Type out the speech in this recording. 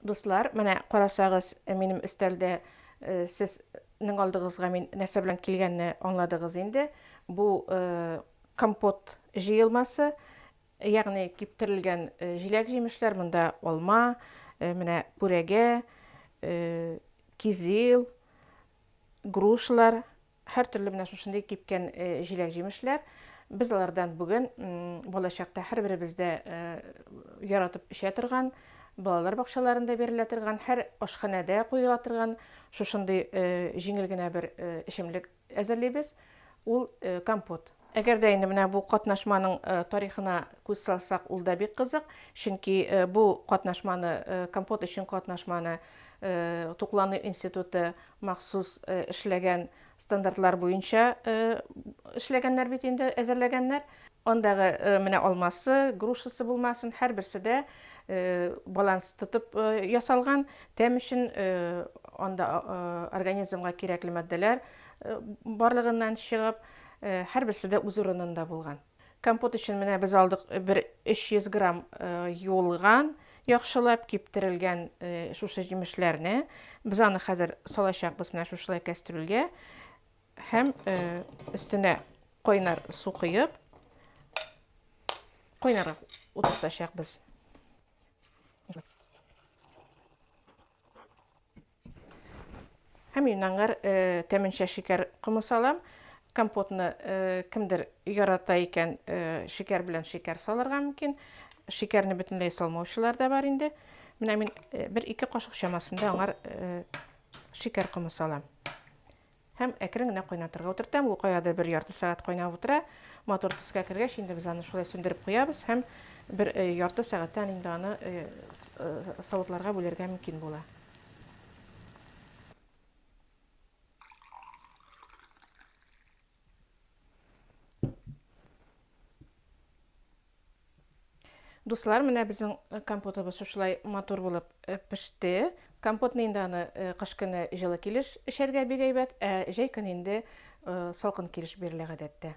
Дуслар, менә карасагыз, минем өстәлдә сез нең алдыгызга мин нәрсә белән килгәнне аңладыгыз инде. Бу компот җыелмасы, ягъни киптерелгән җиләк-җимешләр, монда алма, менә пүрәгә, кизил, грушалар, Һәртөрле менә шушындый кипкән җиләк-җимешләр. Без алардан бүген балачакта һәрберебез дә яратып эчә торган, балалар бакчаларында бирелә торган, һәр ашханәдә куела торган шушындый җиңел генә бер эчемлек әзерлибез. Ул компот. Әгәр дә инде менә бу катнашманың тарихына күз салсак, ул да бик кызык, чөнки бу катнашманы, Компот өчен катнашманы Туклану институты махсус эшләгән стандартлар буенча эшләгәннәр бит инде, әзерләгәннәр. Андагы менә алмасы, грушасы булмасын, һәрберсе дә баланс тотып ясалган. Тәм өчен анда организмга кирәкле матдәләр барлыгыннан чыгып, Һәрберсе дә үз урынында булган. Компот өчен менә без алдык бер 300 грамм юылган, яхшылап киптерелгән шушы җимешләрне. Без аны хәзер салачакбыз менә шушылай кәстрүлгә һәм өстенә кайнар су коеп, кайнарга утыртачакбыз. Һәм мин аңар тәменчә шикәр комы салам. Компотны кемдер ярата икән, шикәр белән шикәр салырга мөмкин. Шикәрне бөтенләй салмаучылар да бар инде. Менә мин бер ике кашык чамасында аңар шикәр комы салам. Һәм әкрен генә кайнатырга утыртам. Ул каядыр бер ярты сәгать кайнап утыра. Матур төскә кергәч, инде без аны шулай сүндереп куябыз һәм бер э, ярты сәгатьтән инде аны э, э, савытларга бүләргә мөмкин була. Дуслар, менә безнең компотыбыз шушылай матур булып э, пеште. Компотны инде аны э, кыш көне җылы килеш эчәргә бик әйбәт, ә җәй көне инде э, салкын килеш бирелә гадәттә.